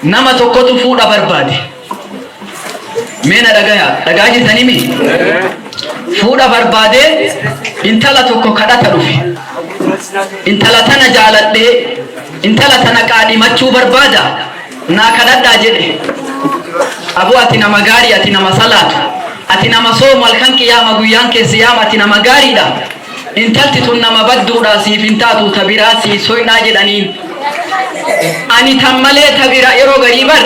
nama tokkotu fuudha barbaade. Mee na dhagaya, dhagaa jirtanii mi? Fuudha barbaade intala tokko kadhata dhufe. Intala tana jaaladhee, intala tana qaadhimachuu barbaada. Naa kadhadhaa jedhe. Aboo ati nama gaarii ati nama salaatu ati nama soomu halkan qiyaama guyyaan kee siyaama ati nama gaariidha intalti tun nama badduudha siif hin taatu ta biraa sii soynaa jedhaniin ani tan malee ta bira yeroo garii bar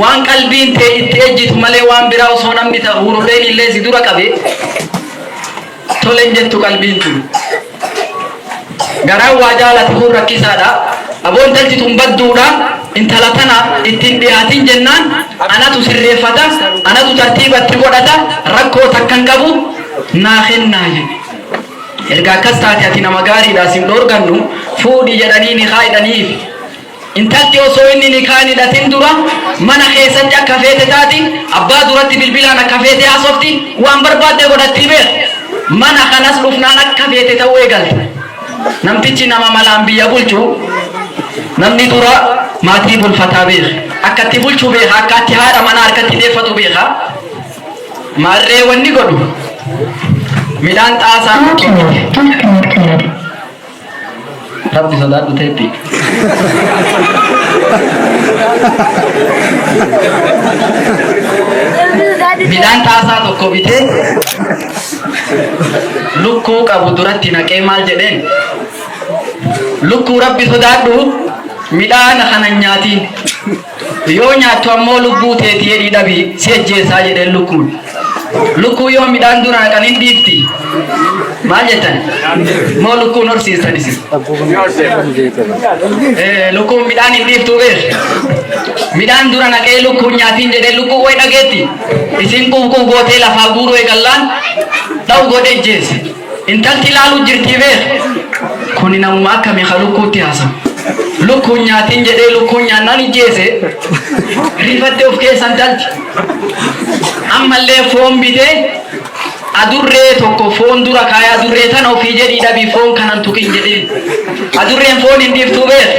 waan qalbiin tee itti ejjitu malee waan biraa osoo namni ta hururreen illee si dura qabe Tole hin jettu qalbiin tun. Garaan waa jaalate kun rakkisaadha. Aboo intalti tun badduudha. Intala tana itti hin dhiyaatin jennaan anatu sirreeffata, anatu tartiiba itti godhata, rakkoo takka hin qabu naa kennaa jedhe. Erga akkas taate ati nama gaariidha sin dhoorgannu fuudhi jedhanii nikaa hidhaniifi. Intalti osoo inni nikaa hin hidhatin dura mana keessatti akka feete taati, abbaa duratti bilbilaan akka feete haasofti, waan barbaadde godhatti beekh. Mana kanas dhufnaan akka feete ta'uu eegalti. Namtichi nama malaan biyya bulchu, namni dura maatii bulfataa beekh. Akka itti bulchu beekha, akka itti haadha manaa harkatti deeffatu beekha. Maarree wanni godhu midhaan xaasaa tokko miti. Rabbi sodaadhu teeppi. Midhaan xaasaa tokko bitee lukkuu qabu duratti naqee maal jedheen? Lukkuu rabbi sodaadhu midhaan kana hin nyaatiin. Yoo nyaattu ammoo lubbuu teeti jedhii dhabi si ajjeesaa jedheen lukkuun. Lukkuu yoo midhaan dura naqan hin dhiifti. Maal jettan? Moo lukkuun horsiistan isin? Eh, Lukkuun midhaan hin dhiiftu beeku. Midhaan dura naqee lukkuun nyaatiin jedhee lukkuu way dhageetti. Isin quufquuf gootee lafaa guuruu eegallaan dha'u godhee jeesse. Intalti ilaaluu jirtii beek. Kuni namuma akkami ka lukkuutti haasa. Lukkuun nyaatiin jedhee lukkuun nyaannaan ijjeese. Rifatte of keessa intalti. Ammallee foon bitee adurree tokko foon dura kaaya adurree tana ofii jedhii dhabii foon kanan tuqin jedheen. Adurreen foon hin dhiiftuu beek.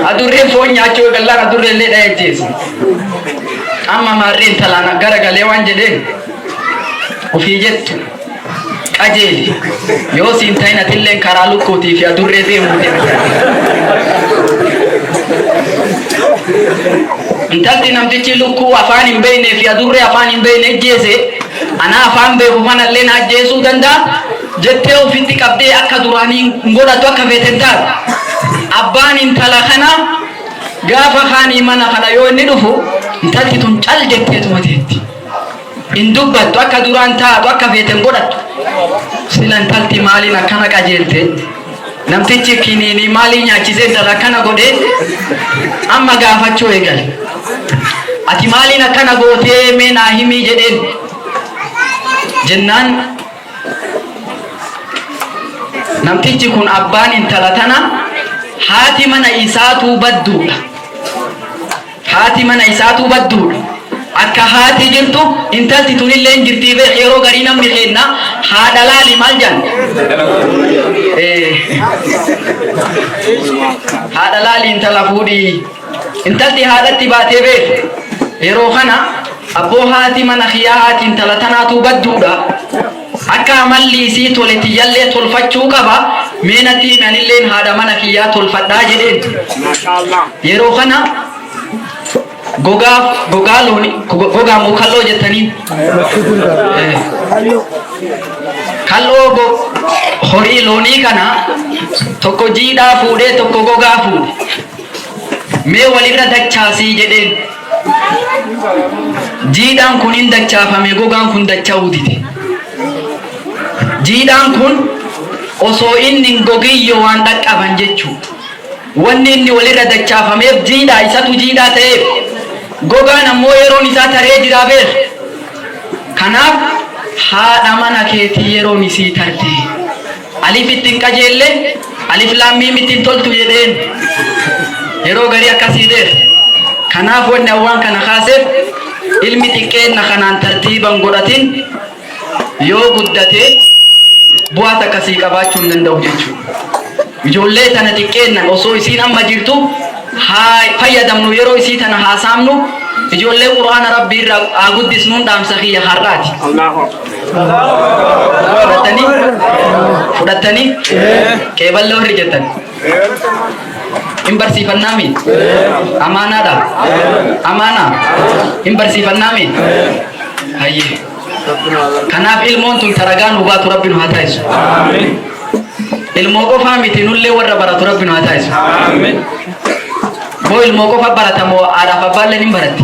Adurreen foon nyaachuu eegallaan adurree illee dhaya ijjeese. Amma maarreen talaana gara galee waan jedheen. ofii jettu qajeeli yoo siin ta'in atilleen karaa lukkuutii fi adurree deemuu intalti namtichi lukkuu afaan hin beekne fi adurree afaan hin beekne ajjeese anaa afaan beeku kanallee na ajjeesuu danda'a jettee ofitti qabdee akka duraanii hin godhatu akka feete hin taatu abbaan intala kana gaafa kaanii mana kana yoo inni dhufu intalti tun cal jetteetuma teetti. Hin dubbattu akka duraan taatu akka feete hin godhattu. Sila intalti maaliin akkana qajeelte? Namtichi kiniinii maaliin nyaachisee intala akkana godhee? Amma gaafachuu eegale. Ati maaliin akkana gootee mee naa himii jedheen. Jennaan namtichi kun abbaan intala tana haati mana isaatuu badduudha. Haati mana isaatuu badduudha. Akka haati jirtu intalti tunilleen jirtii beekh yeroo garii namni keenna haadha laali maal jedhan? Ee. Haadha laali intala fuudhi. Intalti haadhatti baatee beekh yeroo kana abboo haati mana kiyyaa haati intala tanaatuu badduudha. Akka amalli isii tole tiyyallee tolfachuu qaba, mee natti himi anilleen haadha mana kiyyaa tolfadhaa jedheen. Yeroo kana gogaa gogaa looni gogaa moo kalloo jettaniin? Kalloo go horii loonii kana tokko jiidhaa fuudhee tokko gogaa fuudhe. Mee walirra dachaasii jedheen. Jiidhaan kun in dachaafame, gogaan kun dacha'uu dide. Jiidhaan kun osoo inni hin gogin yoo waan dhaqqaban jechuu dha. Wanni inni wal irra dachaafameef jiidhaa, isatu jiidhaa ta'eef. Gogaan ammoo yeroon isaa taree jira beekh. Kanaaf haadha mana keetii yeroon isii tarte. Alif itti hin qajeelle alif laam miim itti hin toltu jedheen yeroo garii akkasii deef kanaaf wanni awwaan kana kaaseef ilmi xiqqeenna kanaan tartiiban godhatin yoo guddate bu'aa takka sii qabaachuu hin danda'u jechuudha. Ijoollee tana xiqqeennan osoo isiin amma jirtu haa fayyadamnu yeroo isii tana haasaamnu ijoollee quraana rabbii irraa haa guddisnuun dhaamsa kiyya har'aati. fudhattanii fudhattanii qeeballa warri jettan hin barsiifannaami amaanaadha amaana hin barsiifannaami hayyee kanaaf ilmoon tun taragaa nu baatu rabbi nu haa taasisu ilmoo qofaa miti nullee warra baratu rabbi nu haa taasisu moo ilmoo qofa baratamoo haadhaaf abbaallee ni baratti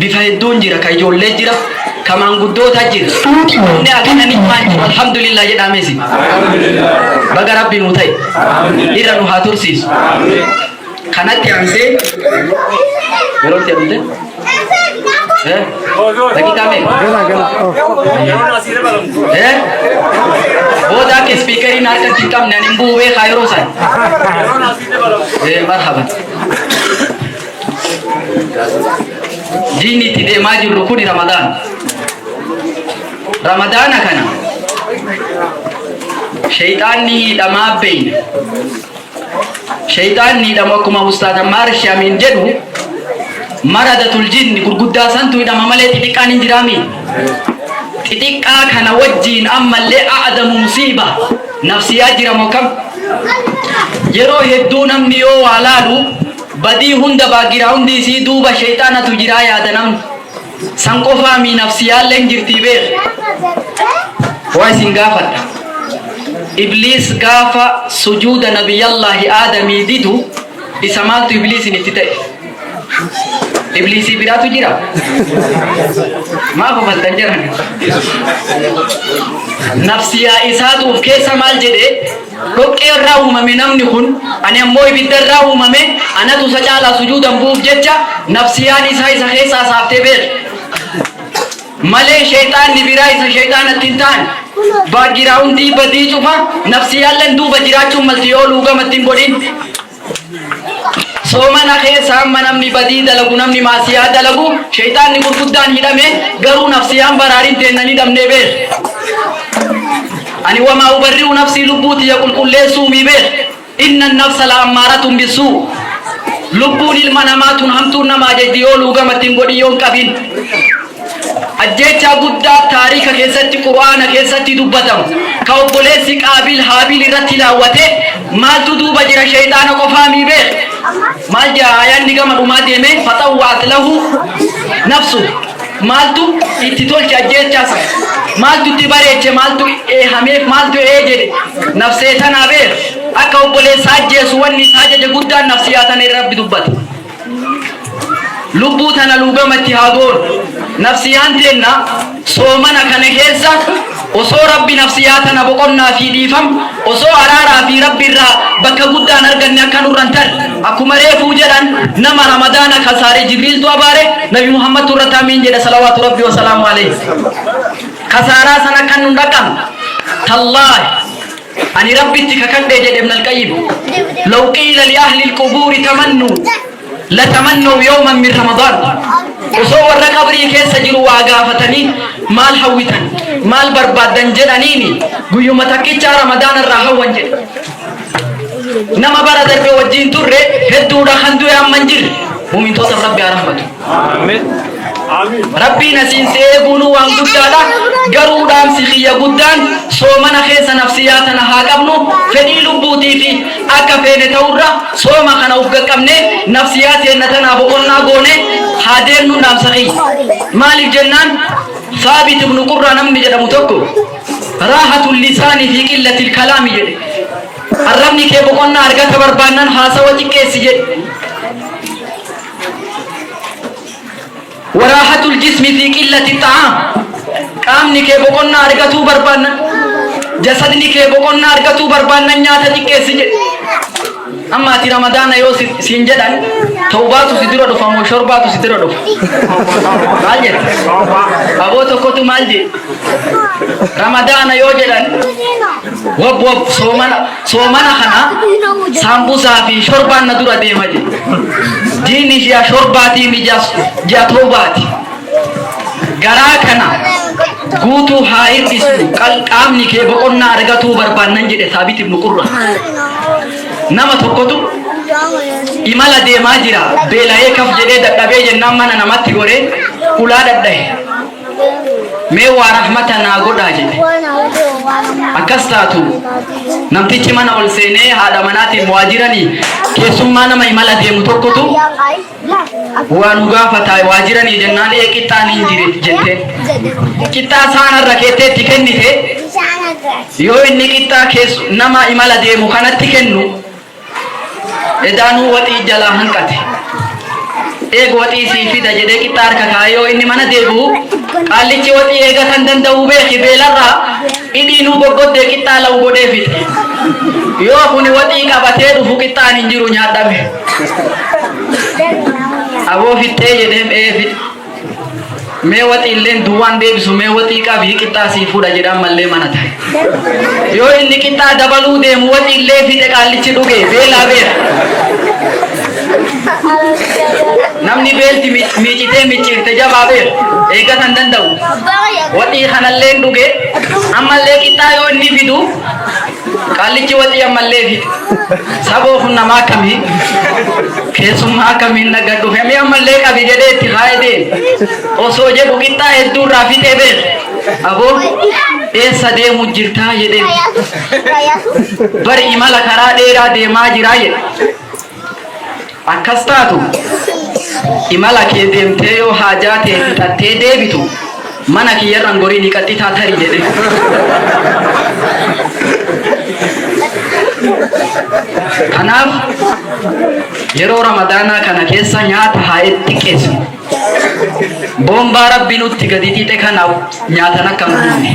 bifa hedduun jira ka ijoollee jira ka maanguddootaa jira inni akkana ni waan jiru alhamdulillah jedhaa meesi baga rabbi nu ta'e irra nu haa tursiisu kanatti aansee yeroo itti amte daqiiqaa mee Eh? Booda akka ispiikariin harkatti hin qabne ani hin bu'u beekaa yeroo sana. Eh, marhaba. Diinni itti deemaa jirru kuni Ramadaan. Ramadaana kana sheyxaanni hidhamaa beeyna. Sheyxaanni hidhamu akkuma Ustaaz Ammaar Shaamiin jedhu maradatul jinni gurguddaa santu hidhama malee xixiqqaan hin jiraami. Xixiqqaa kana wajjiin ammallee a'adamu musiiba nafsiyaa jiramu akkam. Yeroo hedduu namni yoo waa laalu Badii hunda background isii duuba sheyxaanatu jiraa yaada namni. San qofaa mii nafsiyaalleen jirtii beekh. Waa isin gaafadha. Ibliis gaafa sujuuda nabiyyallaahi aadamii didu isa maaltu ibliisin itti ta'e? Ibliisii biraatu jira? Maa kofaltan jiran? Nafsiyaa isaatu of keessa maal jedhe? Dhoqqee irraa uumame namni kun, ani ammoo ibidda irraa uumame, anatu isa caalaa sujuudan bu'uuf jecha nafsiyaan isaa isa keessaa saaftee beeki malee sheyxaanni biraa isa sheyxaanatti hin taane. Background badii cufa nafsiyaalleen duuba jiraachuun malti yoo luugama itti hin godhin. Soomana keessa hamma namni badii dalagu namni maasiyaa dalagu sheyxaanni gurguddaan hidhame garuu nafsiyaan baraariin teenna ni dhabnee beekh. Ani wamaa ubarri'u nafsii lubbuu tiyya qulqulleessuu mii beekh. Inna nafsa la ammaaratun bissuu. Lubbuun ilma namaa tun hamtuun nama ajajdi yoo luugama ittiin godhin yoon qabin. Ajjeechaa guddaa taariika keessatti Qur'aana keessatti dubbatamu ka obboleessi Qaabiil Haabiil irratti laawwate maaltu duuba jira sheyxaana qofaa mii beekh? Maal ja'a aayaanni gama dhumaa deeme faxawwa'at lahu nafsuhu maaltu itti tolche ajjeechaa san maaltu itti bareeche maaltu eehameef maaltu ee jedhe nafsee tanaa beekh akka obboleessa ajjeesu wanni isa ajaje guddaan nafsiyaa tana irra Rabbi dubbate. Lubbuu tana luugama itti haa goonu. Nafsiyaan teenna soomana kana keessa osoo Rabbi nafsiyaa tana boqonnaa fi dhiifam osoo araaraa fi Rabbi irraa bakka guddaan arganne akka nurra hin tarre. Akkuma reefuu jedhan nama Ramadaana kasaare Jibriiltu abaare Nabi Muhammadtu irratti amiin jedhe salawaatu Rabbi wasalaamu alayhi. Kasaaraa san akka nun dhaqqabne. Tallaahi. Ani Rabbitti kakadhe jedhe Ibn Al-Qayyim, Law qiila li ahli al-qubuuri tamannuu la tamannaw yawman min Ramadaan, Osoo warra qabrii keessa jiru waa gaafatanii maal hawwitan, maal barbaaddan jedhaniini guyyuma takkichaa Ramadaana irraa hawwan jedhe. Nama bara darbe wajjiin turre hedduudha kan du'e amma hin jirre. Mu'mintootaf Rabbi haa rahmatu. Rabbiin asiin si eeguunuu waan guddaadha. Garuu dhaamsi kiyya guddaan soomana keessa nafsiyaa tana haa qabnu. Fedhii lubbuutiifi akka feene ta'urra sooma kana uf gaqqabnee nafsiyaa teenna tanaa boqonnaa goonee haa deemnuun dhaamsa kiyya. Maaliif jennaan Saabit ibnu Qurraa namni jedhamu tokko Raahatul lisaani fi qillatil kalaami jedhe. Arrabni kee boqonnaa argata barbaannaan haasawa xiqqeessi jedhe. Waraahatul jismi fi qillati xa'aam. Qaamni kee boqonnaa argatuu barbaannan jasadni kee boqonnaa argatuu barbaannan nyaata xiqqeessi jedhe. Amma ati ramadaana yoo si- siin jedhan tawbaatu si dura dhufa moo shorbaatu si dura dhufa? Maal jedhe? Aboo tokkotu maal jedhe? Ramadaana yoo jedhan wab wab soomana Soomana kana saambusaa fi shorbaan na dura deema jedhe. Jiini ji'a shorbaatii mi ji'a ji'a toobaati. Garaa kana guutuu haa hir'isu qal- qaamni kee boqonnaa argatuu barbaannan jedhe saabit ibnu qurra. Nama tokkotu imala deemaa jira beela'ee kaf jedhee dadhabee jennaan mana namatti goree ulaa dhadhahe. mee waa rahmata naa godhaa jedhe akkas taatu namtichi mana ol seenee haadha manaatiin waajiranii keessummaa nama imala deemu tokkotu waa nu gaafata waajiranii jennaan ee qixxaan hin jire jette qixxaa saanarra keetteetti kennite yoo inni qixxaa kees nama imala deemu kanatti kennu Edaanuu waxii jalaa hanqate. Eega waxii sii fida jedhee qixxaa harka kaa'ee yoo inni mana deebi'u qaallichi waxii eega kan danda'u beeki beelarraa hidhiinuu goggoddee qixxaa la'u godhee fixe. Yoo kuni waxii qabatee dhufu qixxaan hin jiru nyaadhame. Aboo fixxee jedheem ee fixxe. Mee waxiilleen duwwaan deebisu mee waxii qabii qixxaa sii fuudha jedhaan mallee mana tahe. Yoo inni qixxaa dabaluu deemu waxiillee fixe qaallichi dhuge beelaa beela. Namni beelti miicitee micciirte jabaa beela eeggata hin danda'u. Waxii kanallee dhuge ammallee qixxaa yoo inni fidu Qaallichi walii ammallee fixe. Saboo kun namaa akkamii? Keessummaa akkamiin naga dhufe mee ammallee qabi jedhee itti kaa'ee deeme. Osoo jedhu qixxaa hedduu irraa fixee beeke. Aboo eessa deemu jirtaa jedhee. Bari imala karaa dheeraa deemaa jiraa jedhe. Akkas taatu, imala kee deemtee yoo haajaa tee fixattee deebitu, mana kiyya irra hin goriini qaxxitaa tari jedhe. Kanaaf yeroo Ramadaanaa kana keessa nyaata haa xiqqeessinu. Bombaa rabbi nutti gadi xixe kana nyaatan akka hin dhumne.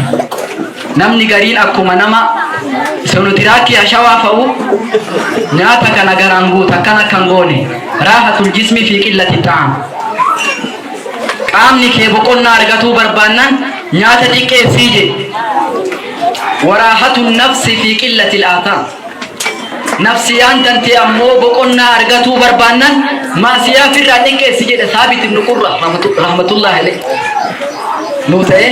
Namni gariin akkuma nama sonotiraakii ashawaa fa'u nyaata kana garaan guuta akkan akka hin goone raahatul jismii fi qillati ta'am. Qaamni kee boqonnaa argatuu barbaannan nyaata xiqqeessii jedhe. Waraahatun nafsi fi qillati laataa. Nafsiyaan tantee ammoo boqonnaa argatuu barbaannan maasiyaa firraa xiqqeessi jedhe saabit ibnu qurra rahmatullahi alayhi. Nuu ta'ee.